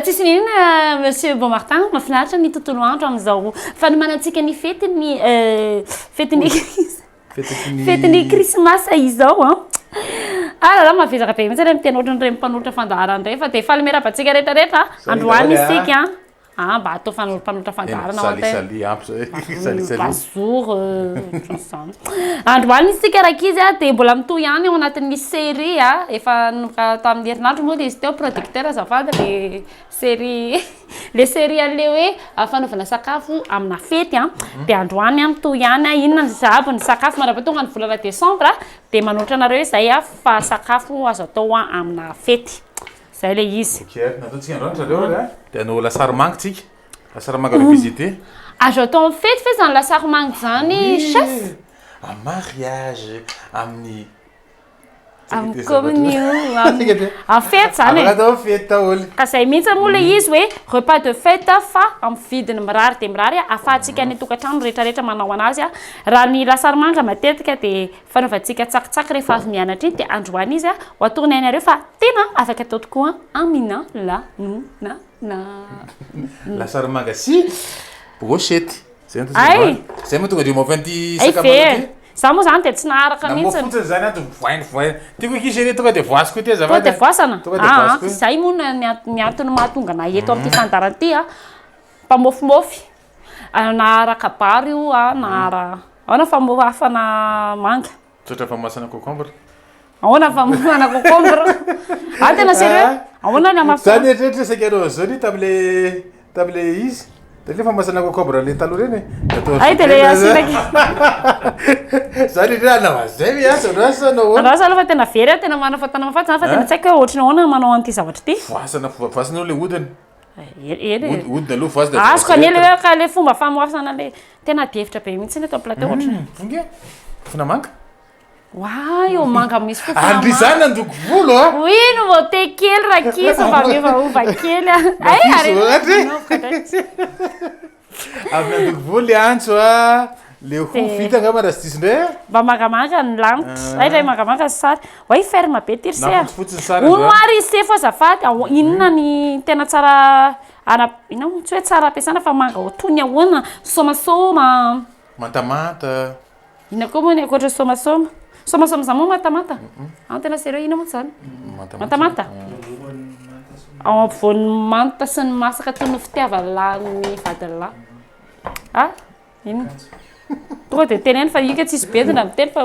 tsisy ny inona monsieur Beaumartin mahafinaritra ny tontolo andro amin'izao fanomanantsika ny fetin'ny euh, fetin'ny fetin'ny krismasy izao an ah. alala ah, mahavezaka be mihitsy ilay miteny ohatran'ireny mpanotra fandaharana ireny fa dia faly miarabantsika rehetrarehetra androany isika Ah mba atao fanolom-panolotra fandaharana ho an'tena. Salut salut ampy zay. Salut salut. Bonjour ohatran'ny izany. Andro alina isika rankizy a dia mbola mitohy ihany ao anatin'ny série a efa nanomboka tamin'ny herinandro moa dia izy teo producteur azafady le série le série an'le hoe fanaovana sakafo amina fety a dia androany a mitohy ihany a inona ny sahabo ny sakafo mandrapaha tonga ny volana décembre dia manolotra anareo izay a fa sakafo azo atao amina fety. Zay le izy. Ok ary nataontsika androany ry zareo ary a. Dia hanao lasary manga tsika. Lasary manga revisité. Azo atao amin'ny fety ve izany lasary manga izany chef? Amin'ny mariage, amin'ny. Amin'ny communion, amin'ny fety izany e. Afaka atao fety daholo. Ka izay mihitsy moa le izy hoe repas de fête fa amin'ny vidiny mirary dia mirary ahafahantsika any an-tokantrano rehetra rehetra manao anazy. Raha ny lasary manga matetika dia Fanaovantsika tsakitsaky rehefa avy mianatra iny dia androany izy a, ho atorony hainareo fa tena afaka atao tokoa an, Amina lanona na. Lasary manga sy brochette. Zay no tena androany. Ay! Zay mahatonga andrio mafy an'ity sakamalao ity. Ay ve! Za moa zany dia tsy naharaka mihitsy. Na mofo fotsiny zany ato voainy voainy. Ty koa kisa anie tonga dia voasiko ity azafady a. Tonga dia voasana? Tonga dia voasiko ity. Zay moa ny antony mahatonga anay eto amin'ity fandaharana ity a, mpamofomofy. Anahara kabary io a, anahara Ahoana famorafana manga? Misaotra famasana cocombre. Ahoana famorafana cocombre? Ah tena sérieux? Ahoana ny hamafana? Za nieritreritra saika anao an'izao ni tamle tamle izy. Tale famasana cocombre le taloha reny e. Atao Ay de le asina Za le rena anao an'izay ve asa anao asa anao ahoana? Andraso aloha fa tena very a, tena marina fa tena mahafaty za fa tena tsy haiko hoe ohatry ny ahoana manao an'ity zavatra ity. Voasana voasana aloha le hodiny. Odina aloha voazy da Azoko anie le hoe ka le fomba famoasana le tena adihevitra be mihitsy eto plateau ohatra. Hmm, vonge. Fofona manga. Wa, eo manga misy fofona manga. Andry zany andoko volo a. Ah. Oui, no vao te kely rakiso mba miova ova kely a. Ay, ah. eh, arena. Avy nandoko voly Antso a! Le ho vita angamba raha tsy diso indray a! Mba mangamanga ny lanitra. Hay indray mangamanga ny sary. Way ferme be ity r'ise a! Hono ary ise fa azafady a! Inona ny tena tsara ara, inona moa? Tsy hoe tsara ampiasana fa manga ho toy ny ahoana? Somasoma? Mantamanta? Inona koa moa ny ankoatra somasoma? Somasoma izany moa mantamanta? An tena sérieux inona moa izany? Mantamanta? Ao ampovoan'ny manta sy ny masaka toy ny fitiavan'ny vadilahy. Ah, inona? Tonga dia teneno fa ika tsisy bedina miteny fa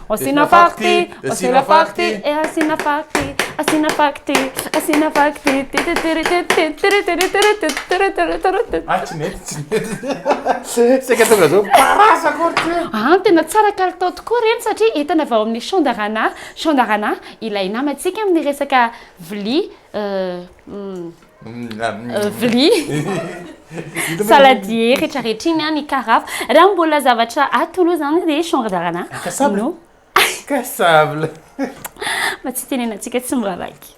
Asina party, asina party, eh asina party, asina party, asina party. Ah tsy mety, tsy mety. Saika tonga zao parasa akory ty. Ah tena tsara kalitao tokoa ireny satria entana avy ao amin'ny Chandarana, Chandarana ilay namantsika amin'ny resaka vilia eh, vilia saladier rehetra rehetra iny any karaf raha mbola zavatra atolo zany dia chanrdarana no kasabla mba tsy tenenantsika tsy miraraiky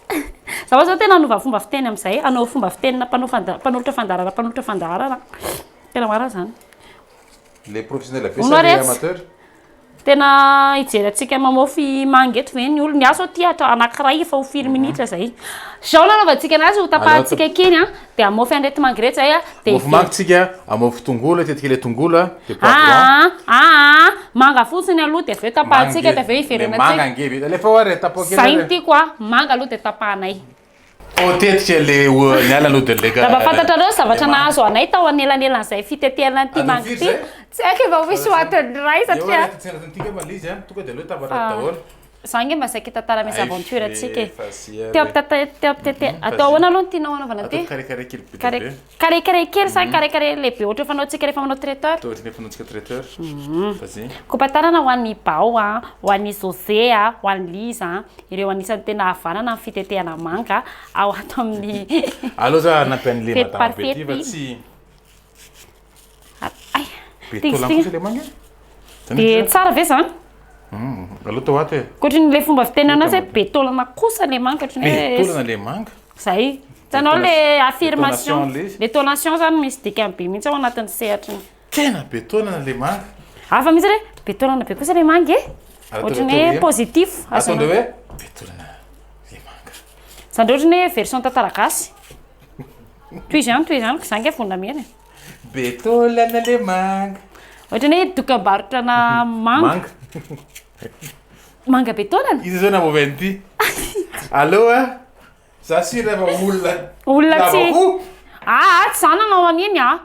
za oa zao tena anova fomba fiteny am'izay anao fomba fitenina mpanao fanda mpanolotra fandarana mpanolotra fandaharana tena marina zany Le professionnel ve sa le amateur? Tena hijery antsika mamofy manga eto ve ny olona? Ny ahy zao tia atao anankiray efa ho firy mhm. minitra zay. Zao nanaovantsika anazy ho tapahantsika kely an, de amofy an'irety manga irety zay a. De mofy manga tsika, amofy tongolo, tetika le tongolo a, de poivron. Ah, ah, ah, manga fotsiny aloha de avy eo tapahantsika de avy eo iverenantsika. Manga nge vita. Alefa oa re tapoha kely. Zay ny tiako a, manga aloha de tapahanay. Oh, tetika le niala no de leka. Raha fantatrareo ny zavatra nahazo anay tao anelanelan'izay fitetehana an'ity mangy ity. Tsy haiko efa ho hisy hoatin'ny iray satria. Eo tsena tontika mba lizy an, tonga de aleo tafatratra ah. daholo. Za nge mba saika tantara mes aventure antsika e. Teo ampitete, teo ampitete. Atao ahoana aloha ny tianao anaovana ty? Kare kare kely be. Karekare kely sa karekare lehibe ohatry ny fanaontsika rehefa manao traiteur? Ohatry ny fanaontsika traiteur. Vas-y. Kopatanana ho an'i Bao a, ho an'i José a, ho an'i Liza a, ireo anisan'ny tena havanana amin'ny fitetehana manga ao ato amin'ny Aleo za hanampy an'le madama Petit fa tsy. Dia tsara ve zany? Hmm, aloha tao ato e. Koatry ny le fomba fitenana azy be taolana kosa le manga koatry ny hoe be taolana le manga. Zay. Tanao le affirmation. Le tonation zany misy dikany be mihitsy ao anatin'ny sehatry ny. Tena be taolana le manga. Hafa mihitsy le be taolana be kosa le manga e. Ohatry ny hoe positif. Ataondreo hoe be taolana le manga. Zany ohatry ny hoe version tantara gasy. Toy izany toy izany, za nge vonona mihena e. Be taolana le manga. Ohatra ny hoe dokam-barotrana manga. Manga be taolana? Iza zao namoavy an'ity? Allo a! Za sur fa olona Olona tsy lava hoho. Aa tsy za nanao an'iny a!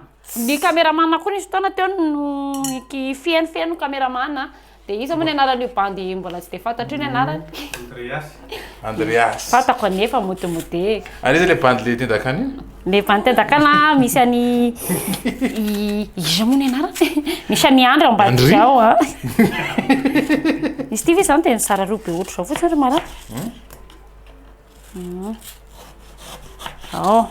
Ny cameraman koa nisy fotoana teo no niki- fiheno fiheno ny cameraman Dia iza moa ny anaran'io bandy mbola tsy dia fantatro io ny anarany? Andreas. Andreas. Fantako anefa mody mody. An'iza ilay bandy le tendakana io? Le bandy tendakana misy any iza moa ny anarany? Misy any Andry Ambadizao a. Izy ity ve izany dia nizara roa be ohatr'izao fotsiny ry Mara? Hmm? Hmm. Oh.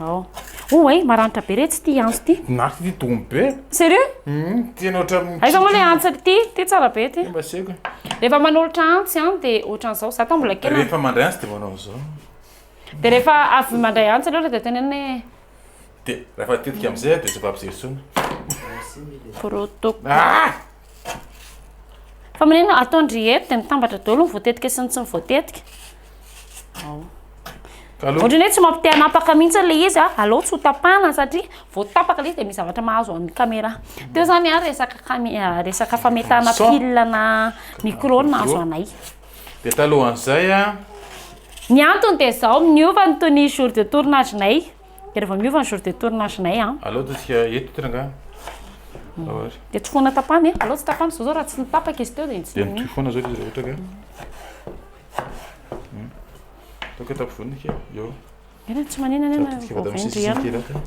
Ao. Oh way, maranitra be retsy ity antso ity. Nafy ity domy be. Sérieux? Hum, tena ohatran'ny Aiza moa le antsa ity? Ity tsara be ity. Mba seko. Rehefa manolotra antsy an dia ohatran'izao, za tao mbola kely. Rehefa mandray antsy dia manao an'izao. Dia rehefa avy mandray antsy aloha dia tenenina hoe Dia rehefa tetika amin'izay dia tsy afa-mijery intsony. Protocole. Ah! Fa maneno ataon-dry eto dia mitambatra daholo ny voatetika sy ny tsy voatetika. Ohatrany hoe tsy mampite hanapaka mihitsy ilay izy a, ah. aleo tsy ho tapahana satria vao tapaka ilay izy dia misy zavatra mahazo an'ny caméra. Teo zany a ah, resaka camé ah, resaka fametahana pile na micro no nahazo anay. Dia talohan'izay a. Ny antony dia zao, miova ny tenue jour de tournage-nay. Dia rehefa miova ny jour de tournage nay an. Aleo ataontsika eto ity rangahy. Dia tsofohana tapany e. Aleo tsy tapany zao zao raha tsy nitapaka izy teo dia tsy. Dia mitohy foana zao izy raha ohatra ka. Ataoko eto ampovoany ity eo. Eny tsy manina anie na Ataontsika vao vao vendry misesisesy kely ihany. ato.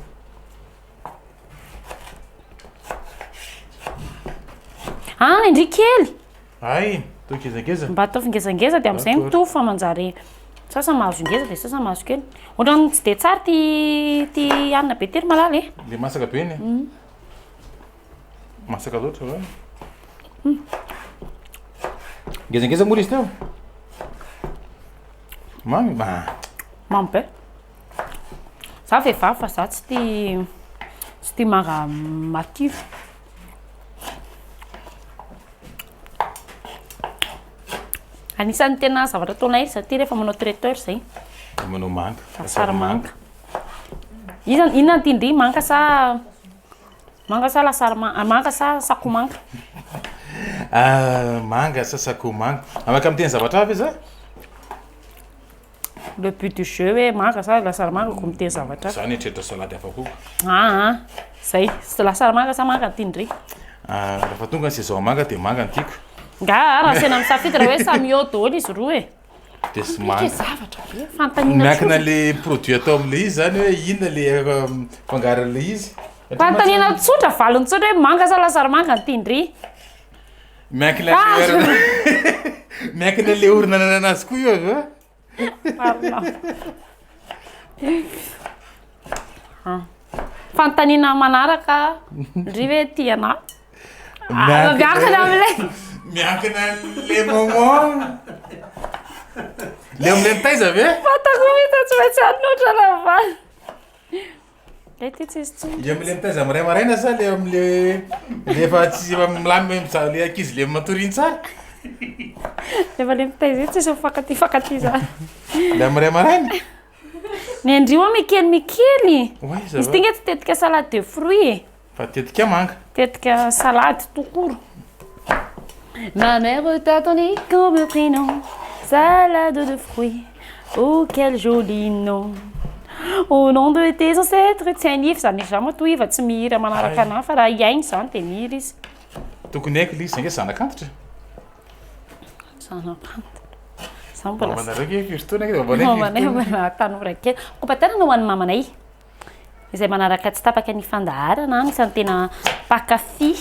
An indry kely. Hay, toa gezageza. Mba ataovy ngezangeza dia amin'izay mitovy fa manjary sasany mahazo ngeza dia sasany mahazo kely. Ohatran'ny tsy dia tsara ty ty hanina be tery malala e. Le masaka be ny. Masaka loatra va? Ngezangeza moa izy teo. Mamy ba. Mamy be. Za vehivavy fa za tsy tia tsy tia manga matify. Anisan'ny tena zavatra ataonay izaty ty rehefa manao traiteur izay. Manao manga. Asara manga. Iza inona ty ndry manga sa manga sa lasary manga, ah, manga sa sako manga. Ah, manga sa sako manga. Amaka amin'ny teny zavatra hafa iza? le but du jeu hoe manga sa lasary manga ko miteny zavatra hafa. Za nieritreritra salade hafa koa. Aa zay, lasary manga sa manga no tiany ndry. Ah rehefa tonga ny saison manga dia manga no tiako. Nga raha asena misafidy raha hoe samy eo daholo izy roa e. Dia tsy manga. Mipika zavatra be, fanontaniana tsotra. Miankina le produit atao amin'ilay izy zany hoe inona le fangaron'ilay izy. Fanontaniana tsotra, valiny tsotra hoe manga sa lasary manga no tiany ndry. Miankina miankina le orina nanana azy koa io avy eo fantanina manaraka ndry hoe tiana miankina amle miankina le moment le amle mitaiza ve fatako mihitsy tsy maintsy anontra raha valy Ilay ity tsy izy tsony. Ilay amin'ilay mitaiza amin'ny iray maraina sa ilay amin'ilay ilay efa tsy efa milamina hoe mizaha ilay ankizy ilay matory iny tsara? Efa ilay mitaiza iny tsy izy mifankatia mifankatia izany. Ilay amin'ny iray maraina? Ny andrio mikely mikely. Oay, ça Izy va? ity nge tsy tetika salade de fruits e. Fa tetika manga. Tetika salade tout court. Ma mère t'attendait comme prénom Salade de fruits Oh quel joli nom Au nom de tes ancêtres Tsy hain'iva izany izy izany matoa iva tsy mihira manaraka anahy fa raha hihaino izany dia mihira izy Tokony haiko ilay izy, ange zanak'antitra e. Zanak'antitra. Za mbola Mamanareo ange Christo ange mamanay. Mamanay mbola tanora kely. Kopa-tanana ho an'ny mamanay. izay manaraka tsy tapaka ny fandaharana an, isan'ny tena mpankafy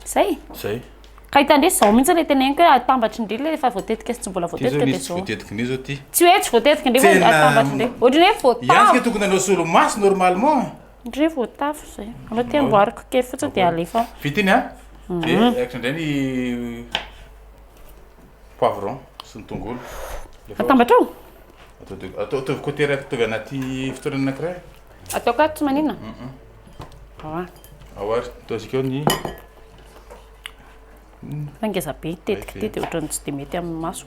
izay. Izay. Ka hitan-dry izao mihitsy ilay teneniko hoe atambatrin-dry ilay efa voatetika sy tsy mbola voatetika dia izao. Voatetika indray izao ty. Tsy hoe tsy voatetika indray fa atambatrin-dry. Ohatry ny hoe voatavo. Ihany ka tokony hanao solomaso normalement. Ndry voatavo izay. Anao ty amboariko kely fotsiny dia alefa. Vita iny an. Dia mhm. aiko indray ny poivron sy ny tongolo. Atambatrao? Atao de atao ataovy côté raiky ataovy anaty fitoerana anakiray. Atao ka tsy manina. Ao a. Ao ary atao zikao ny Fa ngeza be tetika ty de ohatran'ny tsy de mety amin'ny maso.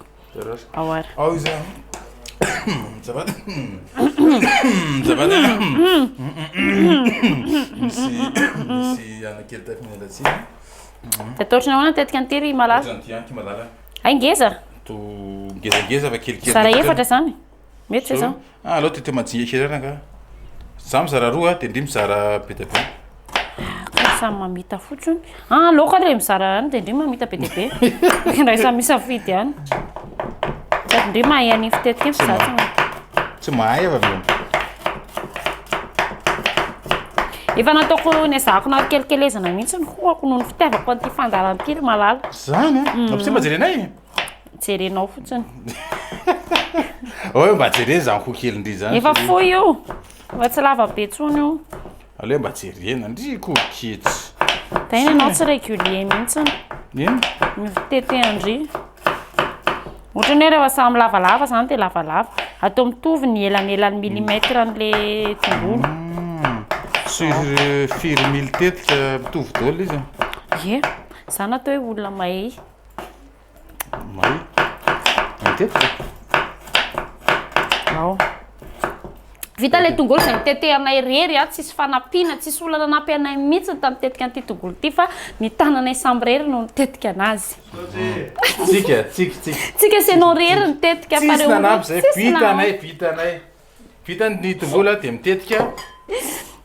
Ao ary. Ao iza. Ça va? Ça va? Misy misy anakely tafiny anatsiny. Ataotry ny ahoana tetika an'ty ry malala? Ohatran'ty an ky malala. Hay ngeza! To ngezangeza fa kelikely. Zara efatra zany. Mety zao. Ah, alao tete majinga kely ara nga. Za mizara roa de ndry mizara be de be. Ah, samy mamita fotsiny. Ah, loka le mizara any de ndry mamita be de be. Ndray samy misafidy any. Sady ndry mahay any fitetika fa za tsy mahay. Tsy mahay fa Efa nataoko nezahako na kelikelezana mihitsy ny hohako noho ny fitiavako an'ity fandaharam-piry malala. Zany a? Raha potser mba jerenay e! Jerenao fotsiny. Ao hoe mba jerena izany hoho kely ndry izany. Efa fohy io. Efa tsy lava be intsony io. Aleo hoe mba jerena ndry ko ketsy. Tena ianao tsy régulier mihitsy. Inn? Ny fitetehan-dry. Ohatrany hoe rehefa samy lavalava izany dia lavalava. Atao mitovy ny elanelan'ny millimètre an'ilay tongolo. Sur firy mily tetika mitovy daholo izy? Ie. Zany atao hoe olona mahay. Mahay. Matetika. Ao. Vita ilay tongolo izay nitetehanay irery a, tsisy fanampiana, tsisy olona nanampy anay mihitsy ny tamitetika an'ity tongolo ity fa ny tananay samy irery no nitetika anazy. Tsika, tsika, tsika. Tsika sy ianao irery nitetika fa ireo olona tsisy nanampy. Vitanay, vitanay. Vita ny tongolo dia mitetika.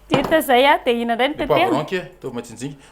Vita izay a, dia ina indray ny tetehana? Ny poivron kay, ataovy majinjika.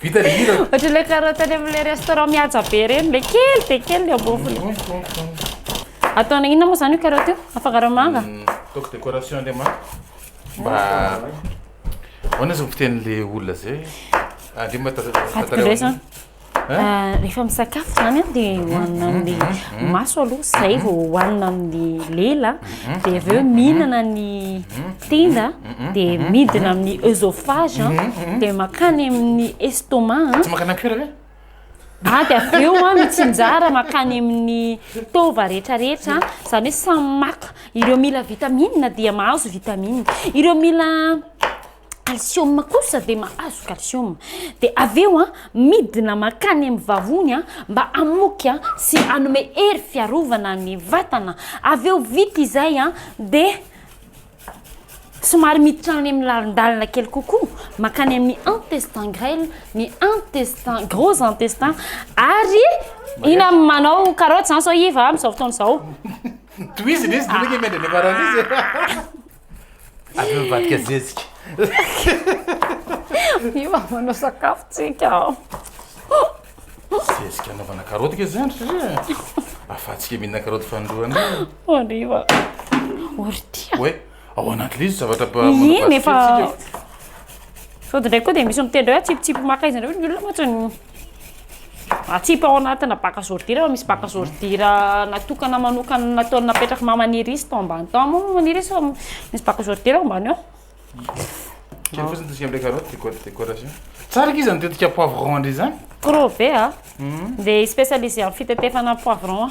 Vita le hira. Ohatry le carotte any amle restaurant mihaja be reny le kely de kely le ambofony. Ataona inona moa zany io carotte io? Afangaro manga? Hmm, ataoko décoration le manga. Mba Ahoana zao fiteny le olona zay? Ande ah, mba tazavao. Ah, rehefa misakafo zany an dia hohanina amin'ny maso aloha izay vao hohanina amin'ny lela dia avy eo mihinana ny tenda dia midina amin'ny oesophage an dia makany amin'ny estomac an Tsy makana an cuir ve? ah dia avy eo an mitsinjara makany amin'ny taova rehetra rehetra izany hoe samy maka ireo mila vitamine dia mahazo vitamine ireo mila kalsioma kosa dia mahazo kalsioma dia avy eo a midina makany amin'ny vavony a mba hamoky a sy hanome hery fiarovana ny vatana avy eo vita izay a dia somary miditra any amin'ny lalindalina kely kokoa makany amin'ny intestin grêle ny intestin gros intestin ary ina manao karoty zany sao iva amin'izao fotoana izao tohizy izy dinaky miandry any ambaran'izy Avy eo mivadika zezika. Io mba manao sakafo tsika ao. Zezika anaovana karoty ke zany satria afatsika mihinana karoty fanindroany. Hariva. Ory tia. Hoe ao anaty lizy zavatra ba Iny efa Sody ndray koa dia misy miteny hoe atsipitsipy maka izy andreo ny olona mantsy. Atsipy ao anatina bac à ordures fa misy bac à ordures natokana manokana nataony napetraky maha manirisy tao ambany tao moa manirisy fa misy bac à ordures ao ambany ao Kely fotsiny ataontsika amle carotte déco décoration tsara ange zany tetika poivron ndray zany Crove a dia spécialisé am fitetefana poivron.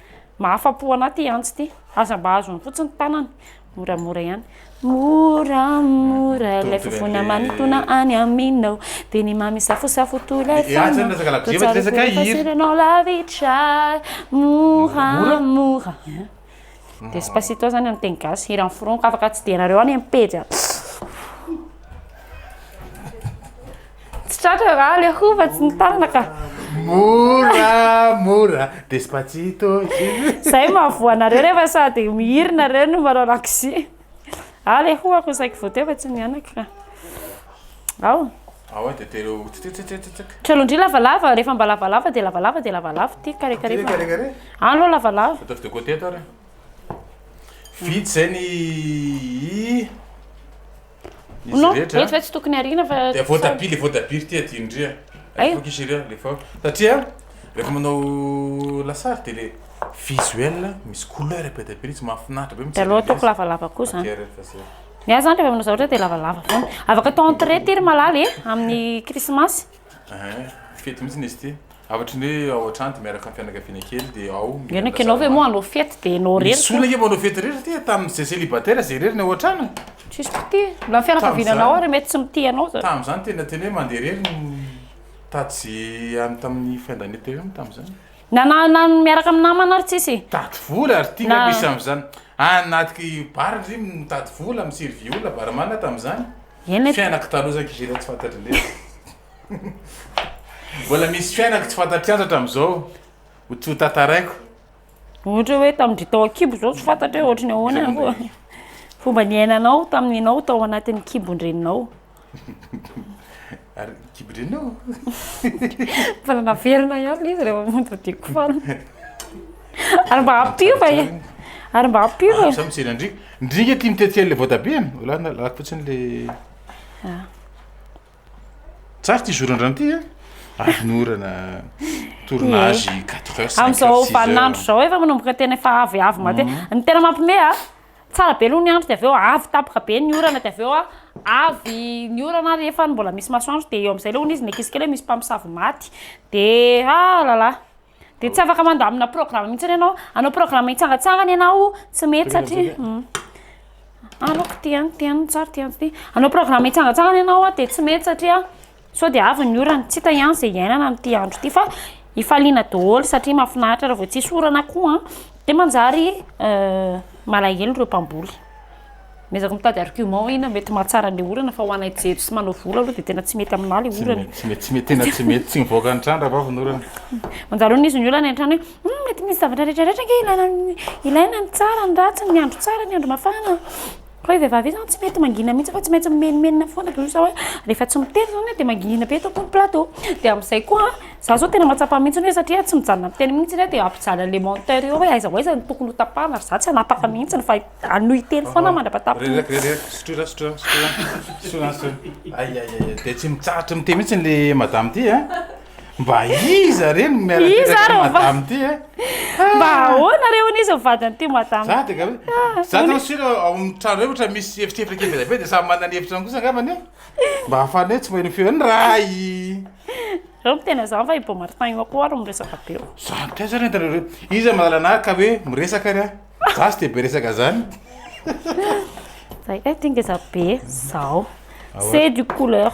Mahafa-po anah ty antsy ty. Aza mba azony fotsiny tanana. Moramora ihany. Moramora ilay fofona manintona any aminao Dia ny mamy safosafo toy ilay fana Dia tsara koa rehefa seranao lavitra Moramora Despacito zany amin'ny teny gasy, hiran'ny foroniko, afaka tsidihana reo any amin'ny pejy a. Tsy tratra raha le hova tsy ny tanana ka. Mora mora despacito. Zay mahavoa anareo rehefa sady mihirina nareo no manao lakozia. Ah le hoho ako saiky voateo fa tsy mianaka ka. Ao. Ao de telo tsitsitsitsitsik. Kalondria lavalava rehefa mba lavalava de lavalava de lavalava ty kare kare. Ty kare kare. Any lo lavalava. Ataovy de côté ato ary. Vita zay ny izy Non, rehetra eto ve tsy tokony ariana fa dia voatabia le voatabia ry ty aty indria Ay. aifoka izy ireo le fa satria rehefa manao lasary dia le visuel misy couleur be dia be izy mahafinaritra be Dia mijery aleo ataoko an'ilay izy. lavalava koa zany. Akera efa zay. Ny ahy zany rehefa manao zavatra dia lavalava foana. Afaka atao entrée ity ry malala e, amin'ny krismasy. Ehe, fety mihitsy izy ity. Hafatry ny hoe ao an-trano dia miaraka amin'ny fianakaviana kely dia ao. Ianao ianao ve moa hanao fety dia ianao irery. Misy olona ange vao hanao fety irery satria tamin'izay célibataire izay irery ny ao an-trano e. Tsisy mpitia. Na ny fianakaviana anao ary mety tsy mitia anao izany. Tamin'izany tena teny hoe mandeha irery ny tato sy any tamin'ny fin d'année teo ihany tamin'izany. Na na na ny miaraka amin'ny namana ary tsisy e. Mitady vola ary ity Na- misy amin'izany. Any anaty bar ndry mitady vola, mi-servir olona barman tamin'izany. Eny ati. Fiainako taloha zany kivy efa tsy fantatry lery. Mbola misy fiainako tsy fantatry antra hatramizao ho tsy ho tantaraiko. Ohatra hoe tamindry tao ankibo zao tsy fantatra hoe ohatry ny ahoana koa fomba niainanao tamin'ny enao tao anatin'ny kibon-dreninao. Ary kibrenao? Mbola naverina ihany ilay izy rehefa montre du cou. Ary mba hampiova e. Ary mba hampiova e. Ah, Samy tsena ndrika. Ndrika tia mitetsika ilay voatabia. Wala na lako fotsiny le. Ah. Tsara ity zoran-drano ity a. Ah. Ahinorana tournage 4 heures. Amin'izao vaninandro izao efa manomboka tena efa avy avy matetika. Mhm. Ny tena mampime a. Tsara be aloha ny andro dia avy eo avy tampoka be ny orana dia avy eo avy ny orana ary efa mbola misy masoandro dia eo amin'izay ilay hono izy nekesika ilay misy mpamosavy maty dia ah là là dia tsy afaka mandamina programme mihitsy ianao hanao programme hitsangatsangana ianao tsy mety satria aloko ty an ty an tsary ty an ty hanao programme hitsangatsangana ianao dia tsy mety satria Sao dia avy ny orana, tsy hita ihany izay iainana amin'ity andro ity fa hifaliana daholo satria mahafinaritra raha vao tsisy orana koa an, dia manjary malahelo ireo mpamboly. Miezaka mitady argument hoe inona mety mahatsara ny orana fa ho anay jejo sy manao volo aloha dia tena tsy mety aminah ilay orana e. Tsy mety, tsy mety, tena tsy mety, tsy mivoaka ny trano raha vao avy ny orana. Manjary hono izy ny olana eny an-trano hoe hum mety misy zavatra rehetra rehetra ange ilaina, ilaina ny tsara, ny ratsy, ny andro tsara, ny andro mafana. Koa io vehivavy io zany tsy mety mangina mihitsy fa tsy maintsy mimenomenona foana toy izao hoe rehefa tsy miteny izao hoe dia mangina be eto am-pony plateau. Dia amin'izay koa za zao tena mahatsapa mihitsy hoe satria tsy mijanona miteny mihitsy izy dia hampijaly an'ilay monteur eo hoe aiza ho aiza no tokony ho tapahana ary za tsy hanapaka mihitsy fa hanohy hiteny foana aho mandra-pahatapitra. Reraka reraka sotroina sotroina sotroina sotroina sotroina. Ay ay ay dia tsy mitsahatra miteny mihitsy ilay madame ity a. Mba iza re no miara Iza ary ny madame ty e? Mba ahoana re hono izy ny vadin'ity madame? Za de gaga hoe za tena sûr ao amin'ny trano reo ohatra misy efitrefitra kely be dia be dia samy manana ny efitrano kosa angambany e? Mba ahafahana hoe tsy maheno feo ny ray. Reo miteny an'zany fa i Beau Martin io akory no miresaka be eo. Za no taiza ary entanareo reo? Iza manala anah ka hoe miresaka ary a? Za tsy de be resaka zany. Zay eh ty ngeza be eh! Zao. C'est du couleur.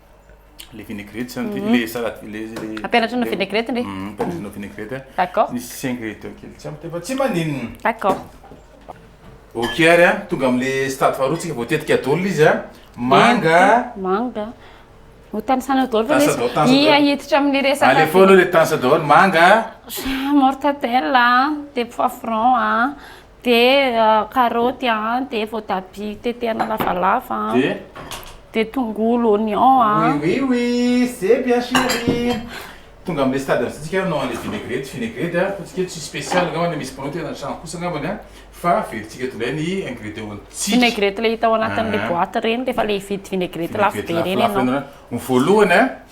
le vinaigrette zany ty, le salade le le Ampianatra anao vinaigrette ndray. Mhm, ampianatra anao vinaigrette a. D'accord. Misy ingrédients kely tsy ampy fa tsy maninona. D'accord. Ok ary a, tonga amle stade faharoa tsika voatetika dol izy a. Manga. Manga. Ho tanisanao dol fa Tanisanao, misy tanisanao. ia hiditra amin'ny Allez resaka fao aloha le tanisanao daholo, manga. mortadelle a, de poivron a, Dia karaoty an, dia voatabia tetehana lavalava an, dia tongolo, oignon an. Oui oui oui c'est bien chérie Tonga amin'ilay stade amin'izay tsika hanao an'ilay vinaigrette, vinaigrette an, ataontsika hoe tsisy special angamba na misy mpanao tena an-trano kosa angambany an, fa averitsika tonga indray ny ingrédients-ntsika. Vinaigrette ilay hita ao anatin'ilay boite ireny rehefa ilay hividy vinaigrette lafo be ireny ianao. Ny voalohany an,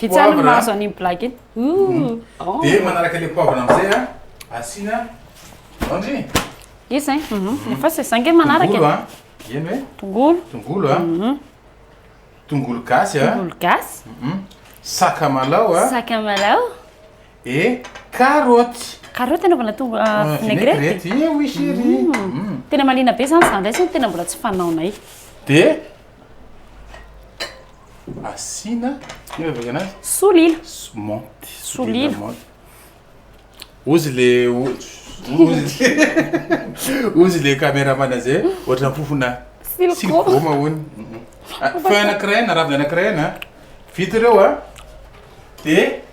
Vitsany ny mahazo an'iny blague iny. Dia manaraka ilay poivre amin'izay a, asiana laondry. Izy zay, efa zay za nge manaraka e. Tongolo a, eny hoe. Tongolo. Tongolo a. Tongolo gasy a. Tongolo gasy. Sakamalaho a. Sakamalaho. E, carottes. Carottes anaovana to- ah, Ah, vinaigrette? vinaigrette, eh oui chérie. Mm. Tena mahaliana be zany zany ndray zany tena mbola tsy fanaonay. Dia asiana ino avy anazy? Solila. S- Monty. Solila. monty. Ozy le o- ozy ozy le caméraman zay ohatran'ny fofona Silko. silkoma hono. Mhm. Ah, Feuille anankiray na ravina anankiray na vita ireo a. Dia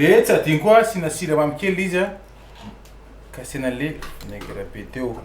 Dia tsy adino koa asiana siramamy kely izy an, ka asiana le vinaigre be teo.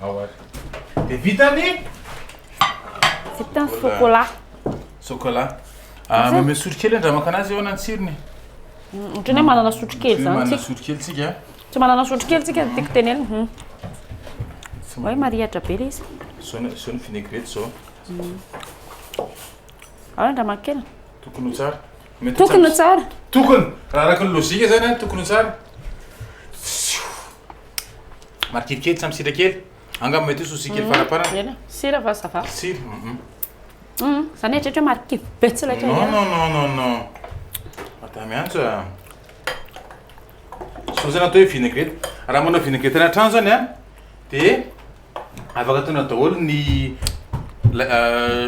Ao ary. Dia vita ny Vita ny sokolà. sokolà. Ah, Mameo sotrokely andramaka anazy eo na ny tsirony. Ohatran'ny hoe manana sotrokely Hoe izany manana tsika. sotrokely tsika. ah. Tsy manana sotrokely tsika ny tiako tenenina. Hmm. Tsy Hoe marihatra be ilay izy. Zao ny zao ny vinaigrette zao. Ao ny andramakely. Tokony ho tsara. Mety ho Tokony ho tsara. Tokony, raha araka ny lojika zany an, tokony ho tsara. Marikivy kely, tsy ampy sira kely. Angamba mety hoe souci kely faraparany. Ela, sira va ça va? Sira, mhm. Hum, za nieritreritra hoe marikivy be tsy laitra Non, ihany. non, non, non, non. Atao miantso a. Sao zany atao hoe vinaigrette. Raha manao vinaigrette any an-trano zany an, dia. Afaka ataonao daholo ny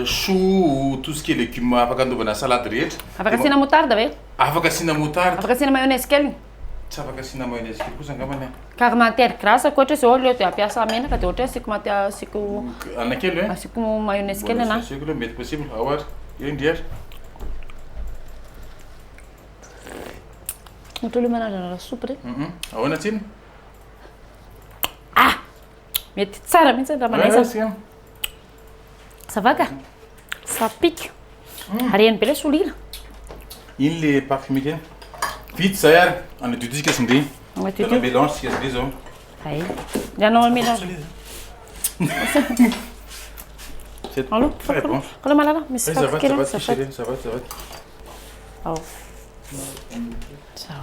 choux, tout ce qui est légumes afaka anaovana salade rehetra. Afaka asiana moutarde ve? Afaka asiana moutarde. Afaka asiana mayonnaise kely? Tsy afaka asiana mayonnaise kely kosa angambany an. Ka raha matière grasse koa ohatra hoe zao aleo dia ampiasa menaka dia ohatra hoe asiako mati- asiako Anana kely ve? asiako mayonnaise kely ana. Asiko aloha mety possible, ao ary, eo indry ary. Ohatra hoe manandrana lasopy re. Ahoana tsiny? Ah! Mety tsara mihitsy ny ramalaisa. Ça va ka? Ça pique. Reny be le solila. Iny le parfumé kely. Vita zay ary. Anadio tsika sy ndry. Anadio. Tena mélange tsika sy ndry zao. Ay. Ny anao mélange. Allô? Très bon. Allô malala, misy paty kely. Ça va, ça va, ça va. Ao. Ciao.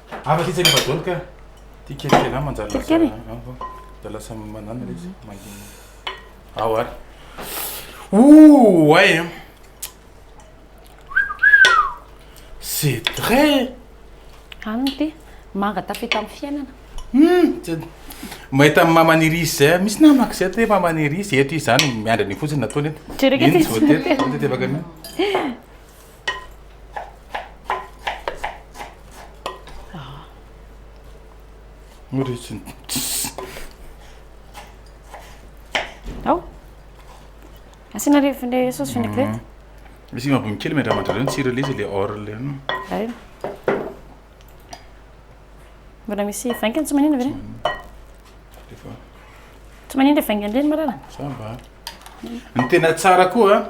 Afa sitsa nefa dol ka ty kelikely an manjary lasa an manjary lasa manana le izy mangina ao ary ouh ay an c'est très any ity manga tafita amin'ny fiainana hum mahita ny mama nirisy zay misy namako zay te mama nirisy eto izy zany miandry an'io fotsiny nataony eto jereka ity zao tety zao tety avaka an'io Murichin. Ao. Asiana le le sauce vinaigrette. Misy mabony kely miandramandra reo tsira le izy le or le. Ay. Mbola misy vaingany tsy manina ve? Tsy manina le vaingany reny marana. Ça va. Ny tena tsara koa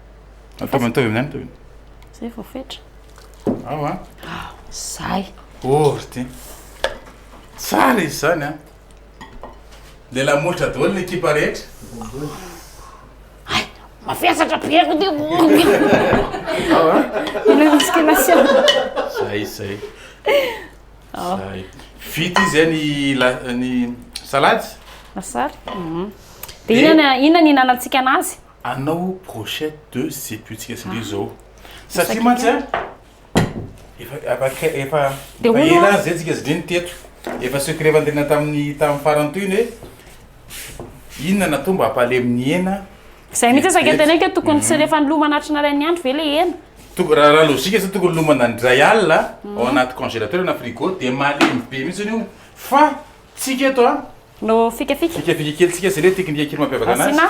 Ataovy mitovy amin'ny aniko e. Zay vao fetra. Ao a. Ao, zay. Oh, ry ty. Tsara izy zany a. Le lamolotra daholo ny ekipa rehetra. Ay, mafesatra be ako ty. Ao a. Ilay musculation. Zay, zay. Ao. Zay. Vita izy any la ny salady. Lasary. Mhm. Dia inona inona ny hinanantsika anazy? Anao brochette de sepuitsika sy indrisy zao satria mantsy a efa efa efa ela ary zay tsika zidreny teto efa secret efa niterena tamin'ny tamin'ny farany toy ny hoe inona natao mba hampalemy ny hena zay mihitsy aza ke teneniko tokony tsy rehefa nilomana atrina ray ny andro ve le hena tokony raha raha logique zany tokony lomana indray alina ao anaty congélateur na frigo de malemy be mihitsy io fa tsika eto a no fikafika fikafika kely tsika sy le teknika kely mampiavaka anazy asina.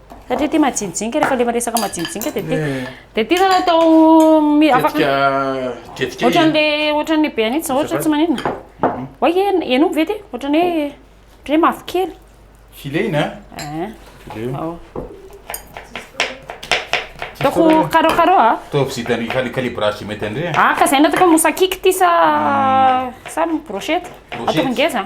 Satria ity majinijinika, rehefa le resaka majinijinika dia ity. Dia ity zany atao mi- afaka- Tetika tetika Ohatrany izy. le ohatrany le be an'ity zao ohatra tsy maninona. Oay e henoiko ve ty? Ohatrany hoe ohatrany hoe mavokely. Fileina a? Eeh. Fileo. Ao. Ataoko carreau carreau a? Ataovy zay tany cali- calibrage zay mety andre a. Ah ka zay natao mousse à cake ty sa sa brochette? Brochette. Ataoko ngeza.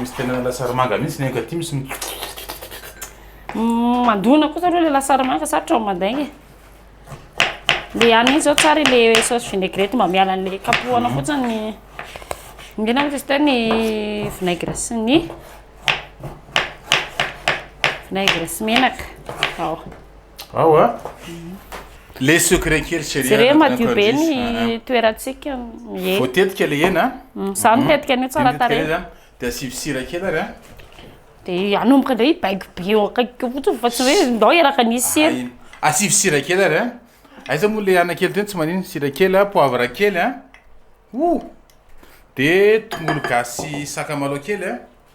Misy tena lasary manga mihitsy ny ankatỳ misy mm, mandona kosa aloha le lasary manga sarotra ao mandaigna e le any mihitsy zao tsara le sauce vinaigrette mba miala an'le kapohana fotsiny ny mihena moa izy teo ny vinaigre sy ny vinaigre sy menaka ao Ao a. Le secret kely chérie. Jereo madio be ny toerantsika mie. Vao tetika le hena. Za no tetika anio tsara tarehy. De asivo sira kely ary a. De anomboka ndray baiko be eo akaiky eo fotsiny fa tsy hoe ndao hiaraka nisy sira. Asivo sira kely ary a. Aiza moa le ana kely teo tsy manino sira kely a poivre kely a. Ouh. De tongolo gasy sy sakamalaho kely a.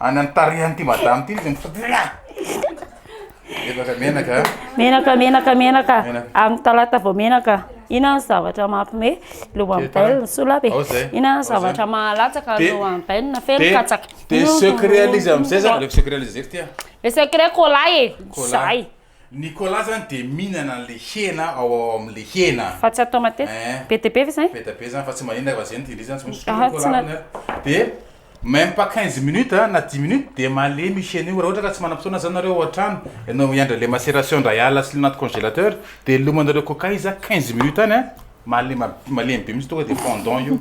Any amin'ny tarihan'ity madame ity izy mifototra. Menaka menaka. Menaka menaka menaka. Amin'ny talata vao menaka. Inona ny zavatra mampime loha amin'ny bainina ny sola be. Inona ny zavatra mahalatsaka loha amin'ny bainina feno katsaka. Dia secret an'izy amin'izay zany. Aleo secret an'izy zay fitia. Le secret cola e. Cola. Nicolas zany dia mihinana an'ilay hena ao ao amin'ilay hena. Fa tsy atao matetika. Eeh. Be dia be ve izay? Be dia be zany fa tsy maninona fa zay no tian'izy zany tsy misy Aha, tsy na- Dia même pas quinze minutes a, na dix minutes dia malemy io hena io. Raha ohatra ka tsy manam-potoana zany nareo ao an-trano, ianao hiandry an'ilay maceration indray alina asolo anaty congélateur dia lomanareo coca izy a, quinze minutes any a, malema- malemy be mihitsy tonga dia fondant io.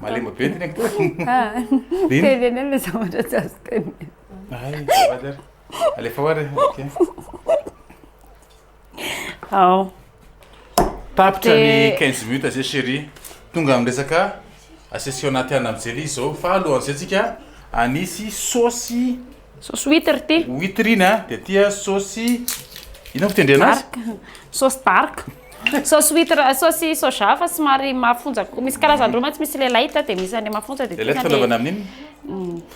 Malemy be ny teneniko. Dia iny. Teny anie ilay zavatra tsy azo tenenina. Hay, azafady ary. Alefa oary e, ok. Ao. Tapitra ny Dia- 15 minutes zay chérie. Tonga amin'ny resaka asesio anaty anana amin'ny jelly izao fa alohan'izay tsika anisy saosy Saosy huitre ty. huitre iny a, dia aty a saosy inona no fitendrena azy? Dark. Saosy dark. Saosy huitre, eh, saosy soja fa somary mafonja. ko- Misy karazany roa mantsy, misy ilay light dia misy an'ilay mafonja dia Le light tena fanaovana ilay amin'iny?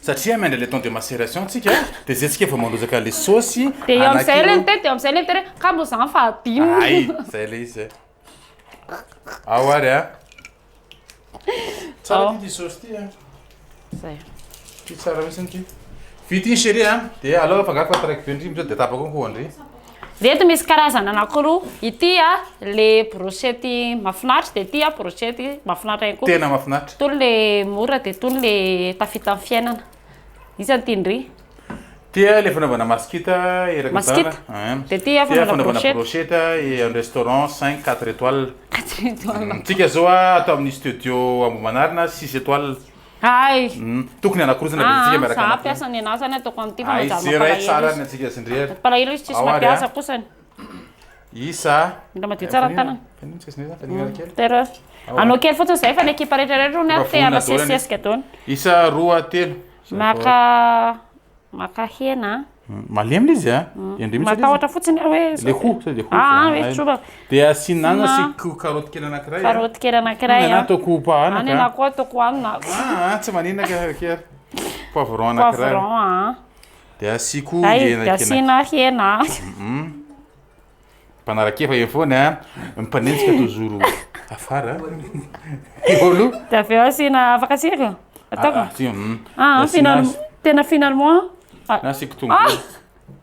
Satria amène le temps de macération tsika de zay tsika vao mandrozaka le saosy anakio. De eo amizay le miteny de eo amizay le miteny hoe kamo zany fa adino. Ay zay le izy eh. Ao ary a. Tsara ty ty saosy ty a. Zay. Ty tsara mihitsy ty. Vita iny chérie a. De alao afangaro fa taraiky be ndry amizao de tapako koa ndry. Ireto misy karazana anankiroa, ity a le brochette mahafinaritra dia ity a brochette mahafinaritra ihany koa. Tena mahafinaritra. Itony le mora dia itony le tafita amin'ny fiainana. Iza no tian'dry? Ity a le fanaovana maskita eraky ny taona. Maskita. Dia ity a fanaovana brochette. Brochette amin'ny restaurant cinq, quatre étoiles. Quatre étoiles. Antsika izao a ato amin'ny studio Ambohimanarina six étoiles. Hay! Tokony hanakorotana be antsika miaraka anao. Za mpiasa ny anah zany ataoko an'ity fa manjary mampalahelo izy. Mampalahelo izy tsisy mampiasa kosany. Isa. Mila madio tsara ny tanana. Tera. Anao kely fotsiny zay fa ny ekipa rehetra rehetra hono te hanasesisesika daholo. Isa roa telo. Maka Maka hena a. Malemy le izy a. Matahotra fotsiny aho hoe. Le hoho sa le hoho. Dia asiana anana sy karoty kely anankiray. Karoty kely anankiray. Ny anana ataoko hoho anana. Ny anana koa ataoko anana. Aa tsy manenaka ary ary. Poivron anankiray. Poivron a. Dia asiako hena kely. Dia asiana hena a. Mpanarakefa eo foana a, mpanenjika tozoro afara. Olo. Dia avy eo asiana afaka sira. Ataoko. Ah, ah, si- mm. Ah, Nasiana- final- tena finalement. Ah, Nasiako tongolo.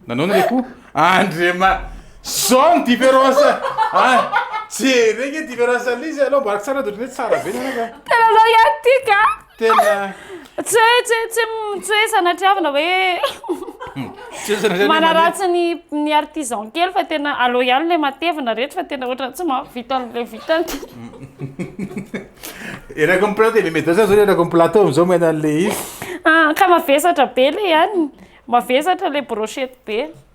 Nanaona le ko? Andriama. Zao ny différence. Ah, jereo nge différence an'izy aloha mba tsara de ohatran'ny hoe tsara be ny anaka. Tena anao ihany tika. tena tsy hoe tsy hoe tsy tsy hoe sanatriavina hoe hmm. manaratsy ny ny artisan kely fa tena aleo ihany le matevina rehetra fa tena ohatra tsy mahavita an'le vitany erako ny plateau le medasa zao erako ny plateau am'zao maina an'le izy ah, ka mavesatra be le ihany mavesatra le brochette be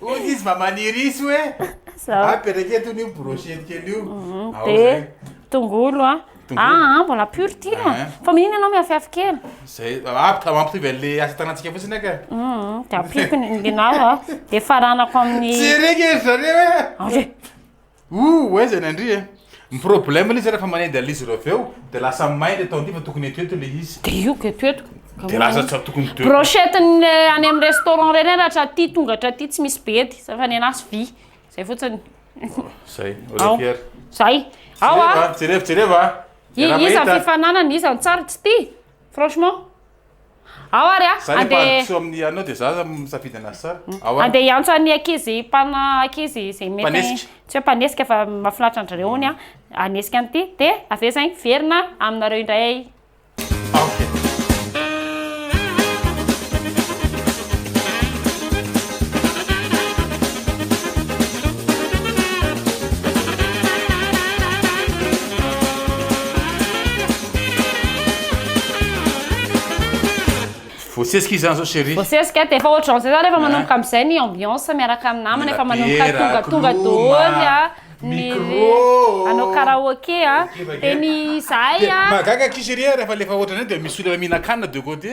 Hoy izy mba manirisy hoe Zao. apetraka eto io brochette kely io. Mhm, Ao Dia zay. tongolo a. Tongolo. Ah, ah, mbola pur ty no. Ah. Fa mihinana ianao miafihafy kely. Zay apika mampitovy an'le asa tanantsika fotsiny aka. Mhm, Dia ampiako ny inona aho a. Dia faranako amin'ny... Tsy erika izy zareo e. Ary. Ooh aiza ny andria eh. Ny problème le zay refa manendy anle izy ireo avy eo de lasa may le tao ndy fa tokony eto eto le izy. De io ka eto eto ka. De lasa tsy tokony teo. Brochette ny any am restaurant reny ary hatraty tonga hatraty tsy misy be ety fa ny anahy vy zay fotsiny. Zay olé fier. Zay. Ao a. Jereva jereva a. Iza ny fifananana iza ny tsara tsy ty franchement. Ao ary a, Zany andeha ampandroso amin'ny anao dia za misafidy an'azy tsara. Ao ary. Andeha hiantso an'ny ankizy mpana ankizy izay mety Mpanesika. tsy hoe mpanesika fa mahafinaritra an-dry zareo hono a, hanesika an'ity dia avy eo izay miverina aminareo indray. Ok. Voasesika izy zany zao chérie. Voasesika dia efa ohatran'izay izany efa manomboka amin'izay ny ambiance miaraka amin'ny namana efa manomboka tonga tonga daholo a, ny hanao karaoke a, dia ny izahay a. Mahagaga akia chérie a rehefa alefa ohatran'izay dia misy olona mihinan-kanina de côté.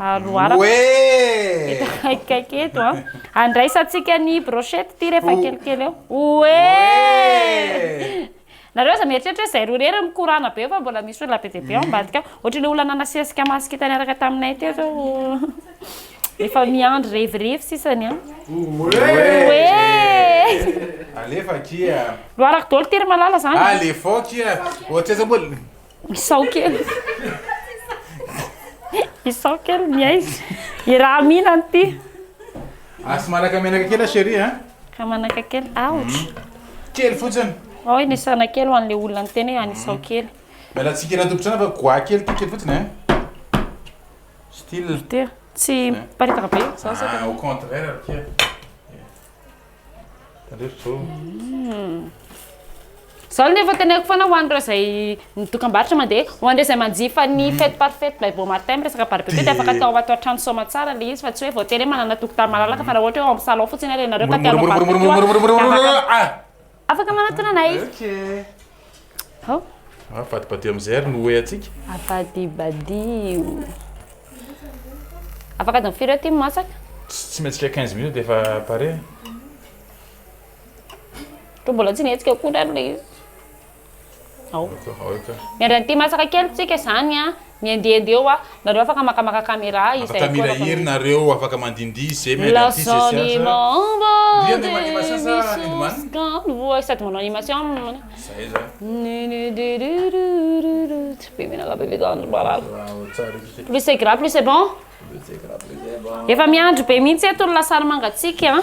Aroaraka eto akaikikaiky eto an. Andraisantsika ny brochette ity rehefa kelikely eo. Oee! Nareo aza mieritreritra hoe zay roa irery mikorana be fa mbola misy olona be dia be ao ambadika ao. Ohatry ilay olona nanasesika masque hita niaraka taminay teo zao efa miandry revirevy sisa ny an. Oee! Alefa akia. Loarako daholo ity ry Malala zany. Alefaokia. Ohatraiza moa. Isao kely. Isao kely ny aizy. Iraha mina an'ity. Asy manaka menaka kely chérie hein. Ka manaka kely. Aotra. Mhm. Kely fotsiny. Ao inisana kely ho an'le olona ny tena any isao mhm. kely. Miala tsika iraha tompotrana fa goa kely ty kely fotsiny hein. Style. Ty. Tsy paritaka be. Ah, au contraire, Pierre. Tandrefy zao. Zao ny efa teneniko foana ho an'ireo izay ny dokambarotra mandeha, ho an'ireo izay manjifa ny mm. fête par fête by Bon Martin miresaka barbecue dia afaka atao ato an-trano soamantsara ilay izy fa tsy hoe voatery hoe manana tokotany malalaka fa raha ohatra hoe ao amin'ny salon fotsiny ary ianareo ka te hanao barbecue afaka manatona anay. Avadibadio amin'izay ary ny oe antsika. Avadibadio. Afaka adiny firy eo ty masaka? Tsy mihetsika 15 minutes dia efa pare. Toa mbola tsy nihetsika akory ary le izy. Ao. Miandry an'ity masaka kely tsika izany an. Mihendihendy eo ah. Nareo afaka makamaka camera ah izahay koa refa mi. nareo afaka mandihindihy ze mi andeha aty ze tsy aza. Ndrian de manima sia sa nindimani? Sady manao animation am. Zay zany. Plus c'est gras plus c'est bon. Efa miandry be mihitsy eto ny lasary mangatsiaka a.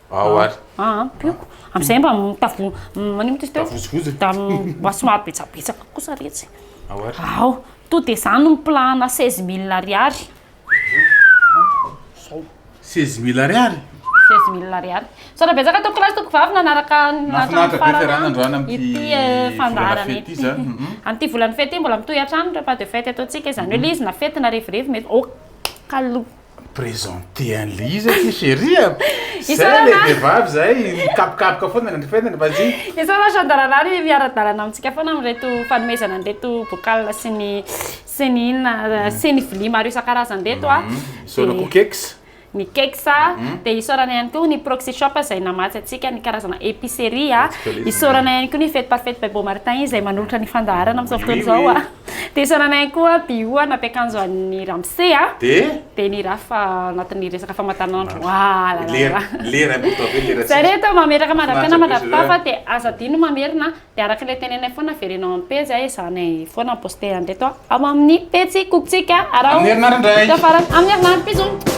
Ao ary. Ah, ampiako. Amin'izay mba mitavo manomana izy teo. Tavozivozina. Da mba somary betsabetsaka kosa retsy. Ao ary. Ao, to dia zany no plan-na seize mille ariary. Zao. Seize mille ariary? Seize mille ariary. Misaotra betsaka tompoko lahy sy tompoko vavy nanaraka ny Nahafinaritra be fiarahana androany hatramin'ny amin'ity ity eh, volana fandaharana fety ity ity. zany. Mhm. Amin'ity volana fety ity mbola mitohy hatrany repas de fête ataontsika, izany hoe ilay izy na fety na revirevy mety ok aloha. Présenter an'ilay izy akia chéri a! Zay ilay vehivavy zay, mikapokapoka foana ny andrefenany, vas-y! Isaorana Chandralala ary miara-dalana amintsika foana amin'ireto fanomezana an'ireto bocal sy ny sy ny inona sy ny vilia maro isan-karazany ireto a! Isaorana koa Kex. Ny Kex, dia isaorana ihany koa ny Proxy Shop izay namatsy antsika ny karazana épicerie a! Isaorana ihany koa ny Fête par Fête by Beaumartin izay manolotra ny fandaharana amin'izao fotoana izao a! Dia saranay koa Bio na mpiakanjo an'ny ramose a. Dia? Dia ny raf anatin'ny resaka famatanan-dro ah la la la. Lera, lera eh, pourtant ve lera tsisy. Za reto mametraka mandra-piainana mandra-pitafa dia aza adino mamerina dia araka ilay teneninay foana avereno amin'ny pejy a ezahanay foana ny poster an'ireto ao amin'ny pejy Kokotsika araho. Amin'ny herinandro indray. Ka farany amin'ny herinandro bisous.